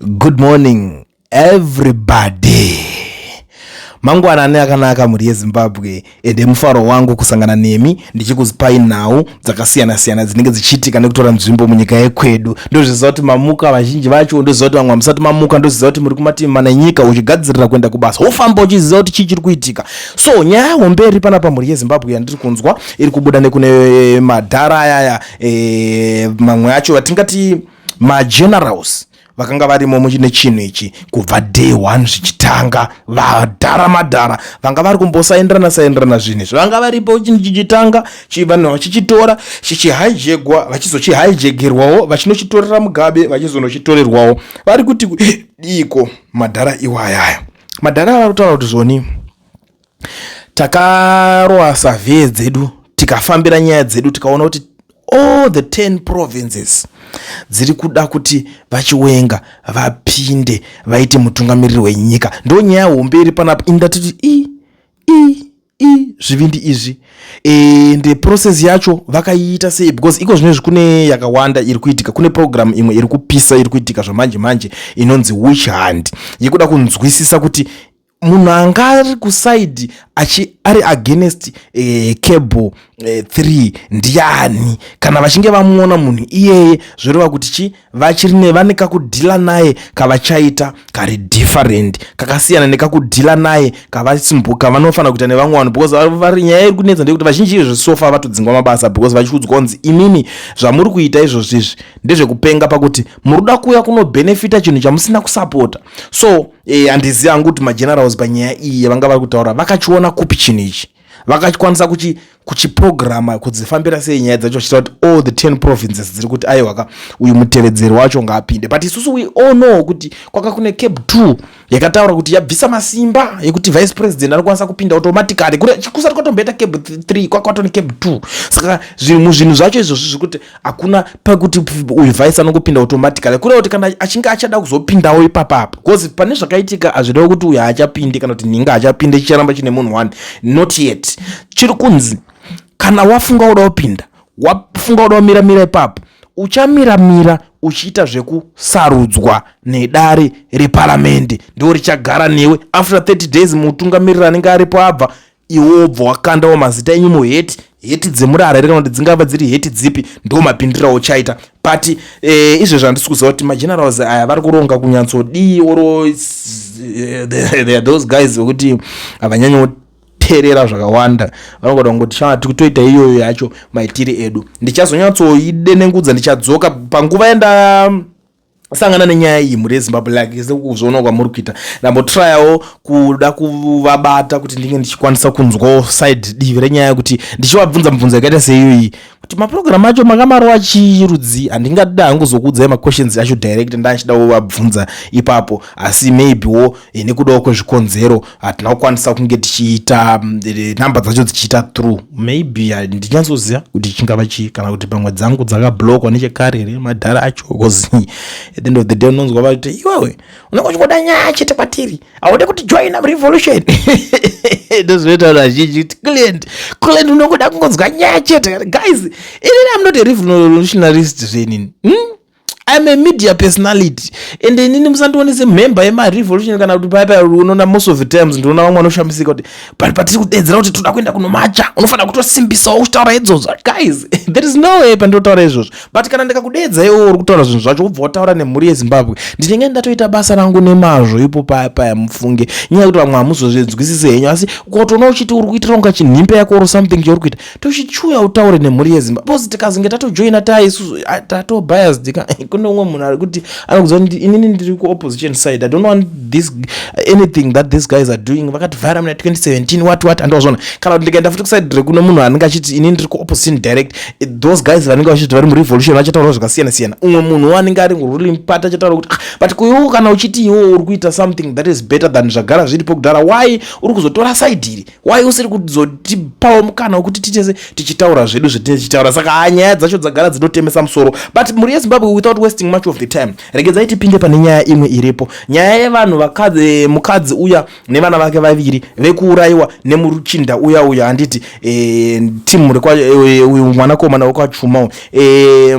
Good morning everybody. Mangwanani akanaka mhuri yeZimbabwe ende mufaro wangu kusangana nemi ndichikuzipai nhau dzakasiyana siyana dzinenge dzichiitika nekutora nzvimbo munyika yekwedu. Ndozviziva kuti mamuka vazhinji vacho, ndoziva kuti vamwe hamusati mamuka, ndoziva kuti muri kumativi mana enyika uchigadzirira kuenda kubasa. Wofamba uchiziva kuti chii chiri kuitika. So nyaya hombe iri panapa mhuri yeZimbabwe yandiri kunzwa iri kubuda nekune madhara ayaya e, eh, mamwe acho atingati magenerals vakanga varimo nechinhu ichi kubva day one zvichitanga vadhara madhara vanga vari kumbosaenderana saenderana zvinhu izvi vanga varipo chinhu chichitanga vanhu vachichitora chichihijegwa vachizochihijegerwawo vachinochitorera mugabe vachizonochitorerwawo vari kuti diiko madhara iwayaya madhara vari kutaura kuti zvoni takaroa survey dzedu tikafambira nyaya dzedu tikaona kuti all the 10 provinces dziri kuda kuti vachiwenga vapinde vaite mutungamiriri wenyika ndo nyaya hombe iri panapa ini ndatiti i i i zvivindi izvi and e, process yacho vakaiita sei because iko zvino izvi kune yakawanda iri kuitika kune program imwe iri kupisa iri kuitika zvamanje manje inonzi witch hand yekuda kunzwisisa kuti munhu anga ari kusaidi achi ari against eh, cable eh, three ndiani kana vachinge vamuona munhu iyeye zvoreva kuti chi vachiri ne vane kakudhila naye kavachaita kari different kakasiyana nekakudhila naye kavasimbuka vanofanira kuita nevamwe vanhu because vari nyaya iri kunetsa ndeyekuti vazhinji izvezvisofa vatodzingwa mabasa because vachiudzwa kunzi imimi zvamuri kuita izvozvi izvi ndezvekupenga pakuti muri kuda kuuya kunobenefita chinhu chamusina kusapota so e, eh, andiziva hangu kuti magenerals panyaya iyi yavanga vari kutaura vakachiona kupi chinhu ichi vakakwanisa kuchiprograma kudzifambira sei nyaya dzacho vachita kuti all the ten provinces dziri kuti aiwaka uyu mutevedzeri wacho ngaapinde but isusu we all know kuti kwaka kune cape two yakataura kuti yabvisa masimba yekuti vice president anokwanisa kupinda automatically kusati kwatomboita cape three kwakatone cape two saka zvinhu zvinhu zvacho izvozvi zvekuti hakuna pakuti uyu vice anongopinda automatically kureva kuti kana achinge achada kuzopindawo ipapapa bcause pane zvakaitika hazvireva kuti uyu haachapindi kana kuti nhinga haachapinde chicharamba chine munhu one not yet chiri kunzi kana wafunga uda kupinda wafunga uda kumira mira ipapo uchamira mira uchiita zvekusarudzwa nedare reparamende ndo richagara newe after 30 days mutungamiriri anenge aripo abva iwe wobva wakandawo mazita enyu muheti heti dzemurara here kana kuti dzingava dziri heti dzipi ndo mapindira ochaita but e, izvezvi handisi kuziva kuti magenerals aya vari kuronga kunyatsodii oro eh, those guys vekuti havanyanyo kuterera zvakawanda vanogoda kungoti shaa tikutoita iyoyo yacho maitiri edu ndichazonyatsoidenengudza ndichadzoka panguva yenda sangana nenyaya iyi mhuri yezimbabwe like sekuzviona kwamuri kuita ndambotrayawo kuda kuvabata kuti ndinge ndichikwanisa kunzwawo side divi renyaya kuti ndichivabvunza mubvunzo yakaita seiyoyi kuti mapurogiramu acho makamarowa chirudzi handingatida hangu zokuudzai maquestions acho direct ndachida kuvabvunza ipapo asi maybe wo nekudawo kwezvikonzero hatina kukwanisa kunge tichiita mm, eh, number dzacho dzichiita through maybe eh, ndinyatsoziva kuti chingava chii kana kuti pamwe dzangu dzakablokwa nechekare here madhara acho bcause at the end of the day unonzwa vakuti iwewe unenge uchingoda nyaya chete kwatiri haude kuti joina revolution ndozvinoita vanhu vazhinji kuti client client unongoda kungonzwa nyaya chete guys inini am not a revolutionarist zvenini hmm? I'm a media personality and inini musandione semhemba yemarevolution kana kuti paipa unoona most of the times ndinoona vamwe vanoshamisika kuti but patiri kudeedzera kuti toda kuenda kunomacha unofanira kutosimbisawo uchitaura idzozvo guys there is no way pandinotaura izvozvo but kana ndikakudeedza iwo uri kutaura zvinhu zvacho wobva wataura nemhuri yezimbabwe ndinenge ndatoita basa rangu nemazvo ipo paya paya mufunge nyaya yekuti vamwe hamuzozvinzwisise henyu asi ukaotoona uchiti uri kuitira kunga chinhimbe yako or something chauri kuita tochichuya utaure nemhuri yezimba bcause tikazenge tatojoina taa isusu ah, tatobiased ka kune umwe munhu ari kuti anokuziva kuti inini ndiri kuopposition side i don't want this anything that these guys are doing vakativhara muna 2017 wat wat andozvona kana kuti ndikaenda futi kuside rekune munhu anenge achiti inini ndiri kuopposition direct eh, those guys vanenge vachiti vari murevolution vachataura zvakasiyana siyana umwe munhu wanenge ari ruling part achataura kuti ah, but kuiwo kana uchiti iwo uri kuita something that is better than zvagara zviripo kudhara why uri kuzotora side iri why usiri kuzotipawo mukana wekuti titese tichitaura zvedu zvetinenge tichitaura saka haa nyaya dzacho dzagara dzinotemesa musoro but mhuri yezimbabwe without wasting much of the time regedzai tipinde pane nyaya imwe iripo nyaya yevanhu vakadzi mukadzi uya nevana vake vaviri vekuurayiwa nemuruchinda uya uya handiti e, eh, timu reuyu eh, mwanakomana wekwachuma uyu e,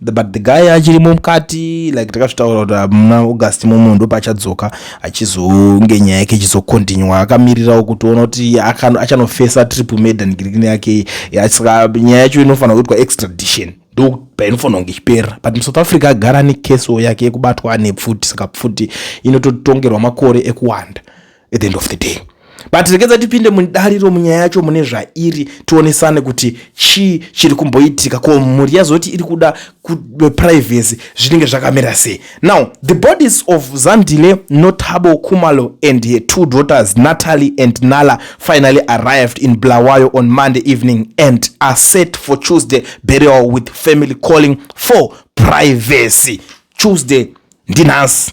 but the guy achirimo mukati like takazvitaura kuti ah, muna august momo ndopaachadzoka achizonge nyaya yake ichizokontinywa akamirirawo kuti ona kuti achanofesa triple madan girikini yake saka nyaya yacho inofanira kuitwa extradition ndo painofanira kunge ichipera but musouth africa agara nekeso yake yekubatwa ane pfuti saka pfuti inototongerwa makore ekuwanda at the end of the day but rekedza tipinde mudariro munyaya yacho mune zvairi tionesane kuti chii chiri kumboitika ko mhuri yazoti iri kuda privacy zvinenge zvakamira sei now the bodies of zandile notabo kumalo and her two daughters natalie and nala finally arrived in blawayo on monday evening and are set for tuesday burial with family calling for privacy tuesday ndinhasi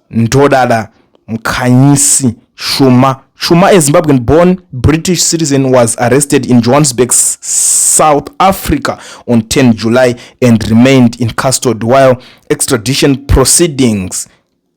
Ndodada Mkhanyisi Shuma Shuma, a Zimbabwean born British citizen, was arrested in Johannesburg, South Africa on 10 July and remained in custody while extradition proceedings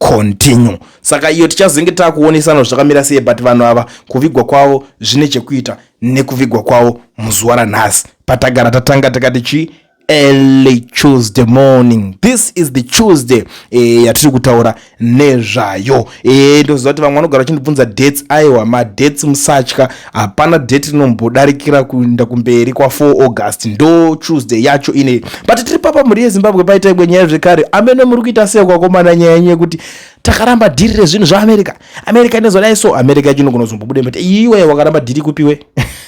continue. Saka iyo tichazenge takuonesana zvakamira sei, but vanhu ava kuvigwa kwavo zvine chekuita nekuvigwa kwavo muzuva ranhasi patagara tatanga takati chii early Tuesday morning. This is the Tuesday eh, yatiri kutaura nezvayo eh, ndoziva kuti vamwe vanogara vachindibvunza dates. Aiwa madates musatya, hapana date rinombodarikira kuenda kumberi kwa 4 August ndo Tuesday yacho ine. But tiri papa mhuri yeZimbabwe paita imwe nyaya zvekare. Amene muri kuita sei kwakomana nyaya yenyu yekuti takaramba dhiri rezvinhu zvaAmerica. America inozodai so America yacho inogona kuzombobuda mbete iwe wakaramba dhiri kupiwe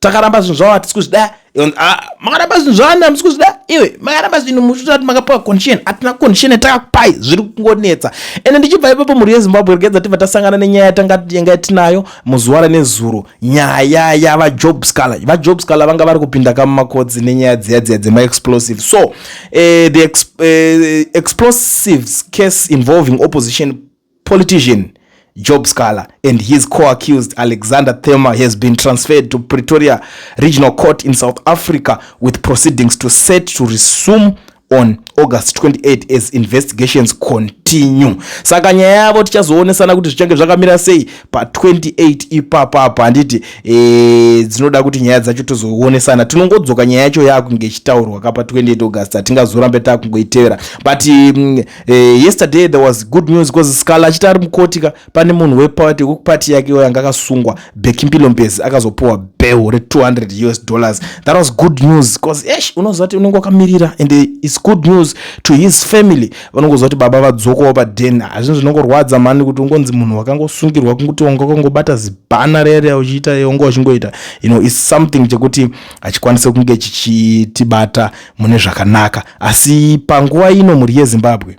takaramba zvinhu zvavo hatisi kuzvida ah, makaramba zvinhu zvavani hamisi kuzvida iwe makaramba zvinhu muchitoa kuti makapiwa condition hatina condition yatakakupai zviri kungonetsa ende ndichibva ipapo mhuri yezimbabwe regedza tibva tasangana nenyaya yatanga yanga tinayo muzuva ranezuro nyaya yavajob scaler vajob scaler vanga vari kupinda kamumakodzi nenyaya dziya dziya dzemaexplosive so uh, the exp, uh, explosives case involving opposition Politician Job Scala and his co-accused Alexander Thema has been transferred to Pretoria Regional Court in South Africa with proceedings to set to resume on August 28 as investigations continue. Saka nyaya yavo tichazoonesana kuti zvichange zvakamira sei pa 28 ipapa apa handiti e, dzinoda kuti nyaya dzacho tozoonesana. Tinongodzoka nyaya yacho yakunge ichitaurwa ka pa 28 August hatingazorambe takungoitevera but mm, Eh, yesterday there was good news because scala achiti ari mukoti ka pane munhu wepati wekupati yake iyoyo anga akasungwa bekimpilo mbezi akazopiwa bell re200 us dollars that was good news because esh unoziva kuti unenge wakamirira and its good news to his family vanongoziva kuti baba vadzokawo paden hazvino zvinongorwadza mani kuti ungonzi munhu wakangosungirwa kunguti wanga wakangobata zibhana rere uchiita yonga uchingoita you know is something chekuti hachikwanise kunge chichitibata mune zvakanaka asi panguva ino mhuri yezimbabwe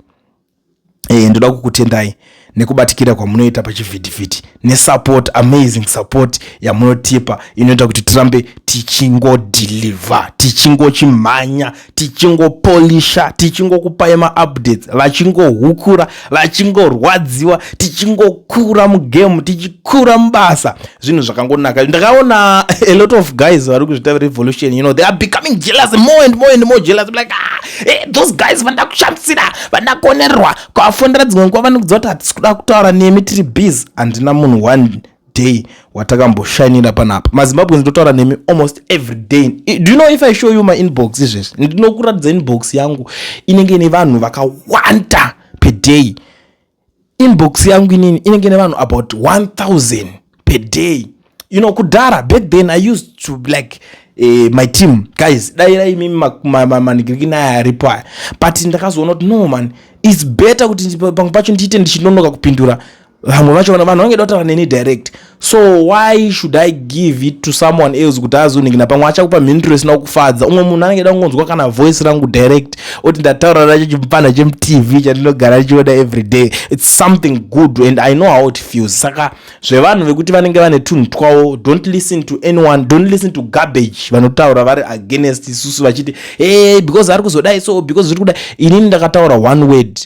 e, ndoda kukutendai nekubatikira kwamunoita pachivhitivhiti nesupport amazing support yamunotipa inoita kuti tirambe tichingodhilivha tichingochimhanya tichingopolisha tichingokupai maupdates vachingohukura vachingorwadziwa tichingokura mugame tichikura mubasa zvinhu zvakangonaka ndakaona a lot of guys vari kuzvita revolution you know they are becoming jealous more and more and more jealous I'm like ah, hey, eh, those guys vanda kushamisira vanda kuonerwa kwavafondera dzimwe nguva vanokudziva kuti hatisi kuda kutaura nemi tiri bees handina munhu one day watakamboshainira panapa mazimbabwe ndinotaura nemi almost every day do you know if i show you my inbox izvezvi ndinokuratidza inbox yangu inenge ine vanhu vakawanda per day inbox yangu inini inenge ine vanhu about 1000 per day you know kudhara back then i used to like eh, my team guys dairai mimi manigiriki naye aripo aya but ndakazoona kuti no man its better kuti pangu pacho ndiite ndichinonoka kupindura vamwe vacho vanhu vangeda kutaura neni direct so why should i give it to someone else kuti azoningina pamwe achakupa mhinduro isina kufadza umwe munhu anenge da kungonzwa kana voice rangu direct oti ndataura nacho chimupana chemutv chandinogara ndichiona every day its something good and i know how it feels saka zvevanhu vekuti vanenge vane tunhu twavo don't listen to anyone don't listen to garbage vanotaura vari against isusu vachiti hey, because ari kuzodai so because zviri kudai inini ndakataura one word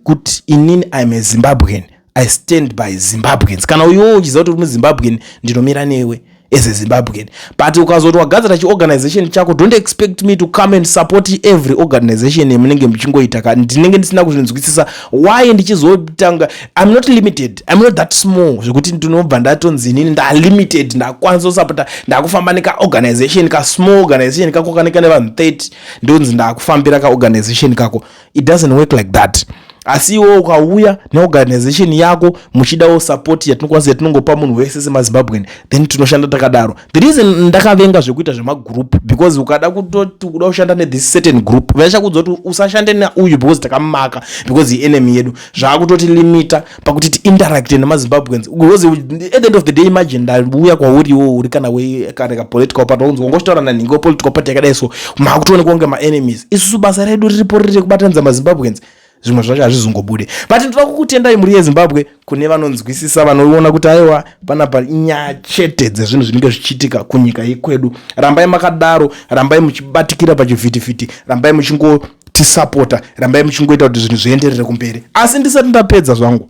kuti inini iam a zimbabwean i stand by zimbabweans kana uyowo uchiziva kuti uri muzimbabwean ndinomira newe as a zimbabwean but ukazoti wagadzira chiorganization chako don't expect me to come and support every organization yamunenge muchingoita ka ndinenge ndisina kuzvinzwisisa why ndichizotanga im not limited im not that small zvekuti ndinobva ndatonzi inini ndalimited ndakwanisa kusapota ndakufamba nekaorganization kasmall organization kako kaneka nevanhu 30 ndonzi ndakufambira kaorganization kako it doesn't work like that asi iwo ukauya neorganization yako muchidawo support yatinokwanisa yatinongopa munhu wese semazimbabwean then tinoshanda takadaro the reason ndakavenga zvekuita zvemagroup because ukada kutoti kuda kushanda nethis certain group vaichakudza kuti usashande neuyu because takamumaka because ienemy yedu zvaakutoti limita pakuti tiinteracte nemazimbabweans because at the end of the day imagine ndauya kwauriwo uri kana kana kapolitical party waunzi wangochitaura nanhingi wepolitical party yakadai so maakutoonekwa kunge maenemies isusu basa redu riripo riri rekubatanidza mazimbabweans zvimwe zvacho hazvizongobude but ndoda kukutendai mhuri yezimbabwe kune vanonzwisisa vanoona kuti aiwa panapa inyaya chete dzezvinhu zvinenge zvichiitika kunyika yekwedu rambai makadaro rambai muchibatikira pachivhitivhiti rambai muchingo tisapota rambai muchingoita kuti zvinhu zvienderere kumberi asi ndisati ndapedza zvangu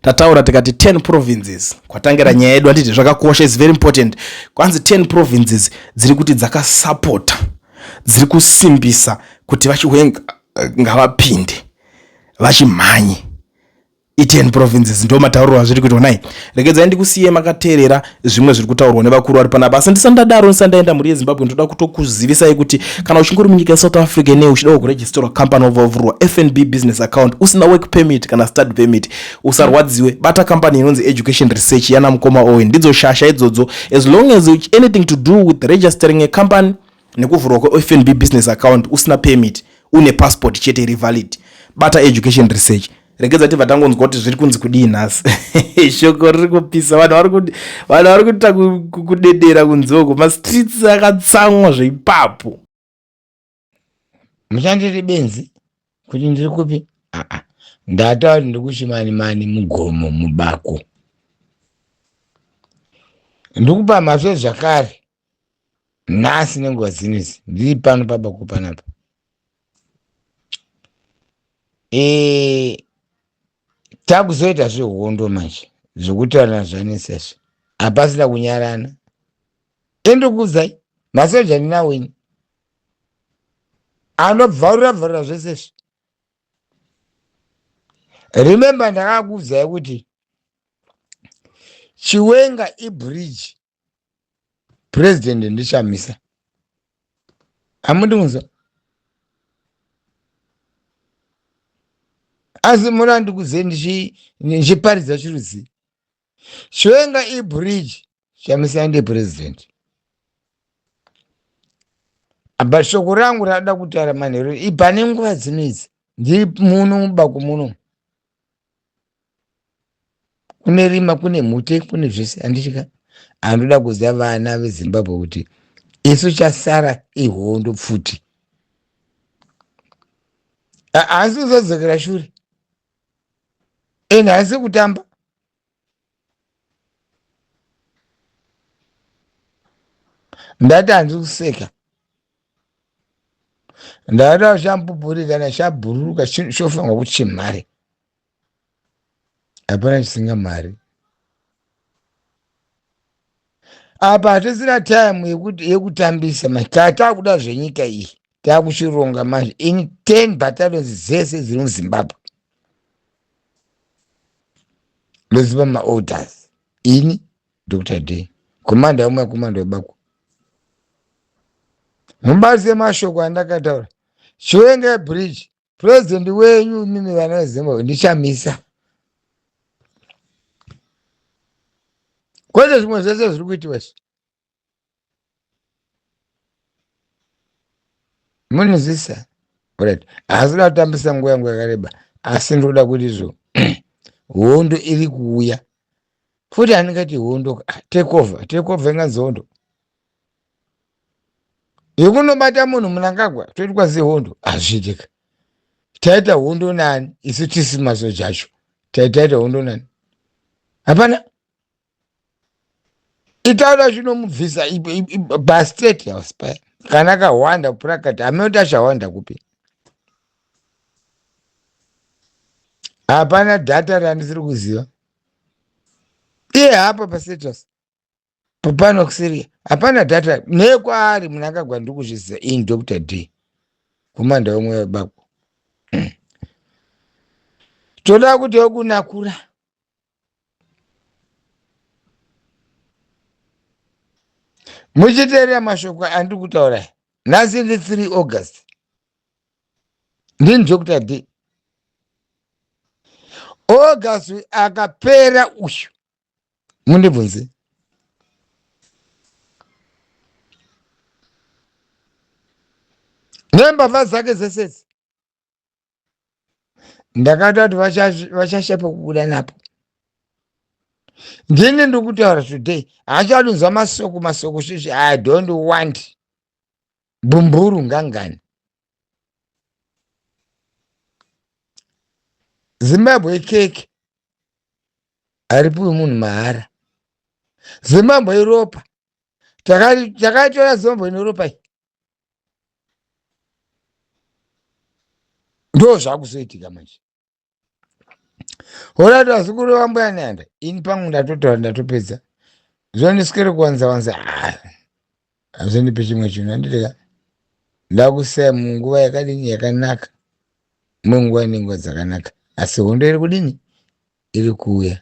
tataura tikati 10 provinces kwatangira nyaya yedu anditi zvakakosha is very important kwanzi 10 provinces dziri kuti dzakasapota dziri kusimbisa kuti vachiwenga ngavapinde vachimhanye iten provinces ndo matauriro azviri kuitwa nai regedzai ndikusiye makateerera zvimwe zviri kutaurwa nevakuru vari panapa asi ndisandadaro ndisandaenda mhuri yezimbabwe ndoda kutokuzivisai kuti kana uchingori munyika yesouth africa nei uchidawo kuregisterwa company wavavurwa fnb business account usina work permit kana study permit usarwadziwe bata company inonzi education research yana mukoma owen ndidzo shasha idzodzo as long as anything to do with registering a company nekuvhurwa kwefnb business account usina permit une passport chete iri valid bata education research regedza tibva tangonzwa kuti zviri kunzi kudii nhasi shoko riri kupisa vanhu vari kuita kudedera kunzoko mastreets akatsamwa zveipapo muchandiri benzi kuti ndiri kupi aa ndataura kuti ndiri kuchimani mani mugomo mubako ndikupa mhasve zvakare nhasi nenguva dzino idzi ndiri pano pabako panapa e, takuzoita zvehondo manje zvekutorana zvanesezvo hapasina kunyarana endokuudzai masoja ndinawo ini anobvarura bvarura zvese izvi remember ndakakuudzai kuti chiwenga ibridge president ndichamisa hamundinzwa asi muna ndikuze ndichi- ndichiparidza chirudzii chiwenga ibridge chamisa ndi president apa shoko rangu rada kutaura manheru ipane nguva dzinoidzi ndiri muno mubako muno kune rima kune mhute kune zvese andichika andoda kuziva vana vezimbabwe kuti isu chasara ihondo pfuti haasi kuzadzokera shure and haasi kutamba ndati hanzi kuseka ndati ashamupupuri kana shabhururuka shofanwa kuchimhare hapana chisinga mari apa hatisina time yekuti yekutambisa manje taa taakuda zvenyika iyi taakuchironga manje in 10 battalions dzese dziri muzimbabwe ndoziva maorders ini dr d komanda umwe komanda webako mubazi yemashoko andakataura chiwenga bridge president wenyu imimi vana vezimbabwe ndichamisa kwete zvimwe zvese zviri kuitiwa izvi munizisa right haasi da kutambisa nguva yangu yakareba asi ndinoda kuti izvo hondo iri kuuya futi handingati hondo take over take over inganzi hondo yekunobata munhu munangagwa toitwa sehondo hazviitika taita hondo nani isu tisi masoja acho taitaita hondo nani hapana itaura zvinomubvisa pastate house paya kana kahwanda kuprakata hameno kuti achahwanda kupi hapana data randisiri kuziva iye hapa pastatus pano kusiria hapana data nekwaari munangagwa ndiri kuzviziva ini dr d kumanda vamwe vabako toda kuti wekunakura muchiteerera mashoko andiri kutaura aya nhasi ndi 3 august ndini dr d august akapera uyu mundibvunze nembavha dzake dzese idzi ndakada kuti vacha- vachashepa kubuda napo ndini ndikutaura today haachadunzwa masoko masoko svisvi i don't want bumburu ngangani Zimbabwe cake haripiwi munhu mahara. Zimbabwe iropa. Takaitora Zimbabwe neropa iyi. Ndoo zvakuzoitika manje. hola kuti vazukuru vambuya nyanda ini pangu ndatotaura ndatopedza zvondiswere kuwanza wanza ah, hazvindipe chimwe chinhu anditeka ndakusaya munguva yakadini yakanaka munguva inenguva dzakanaka asi hondo iri kudini iri kuuya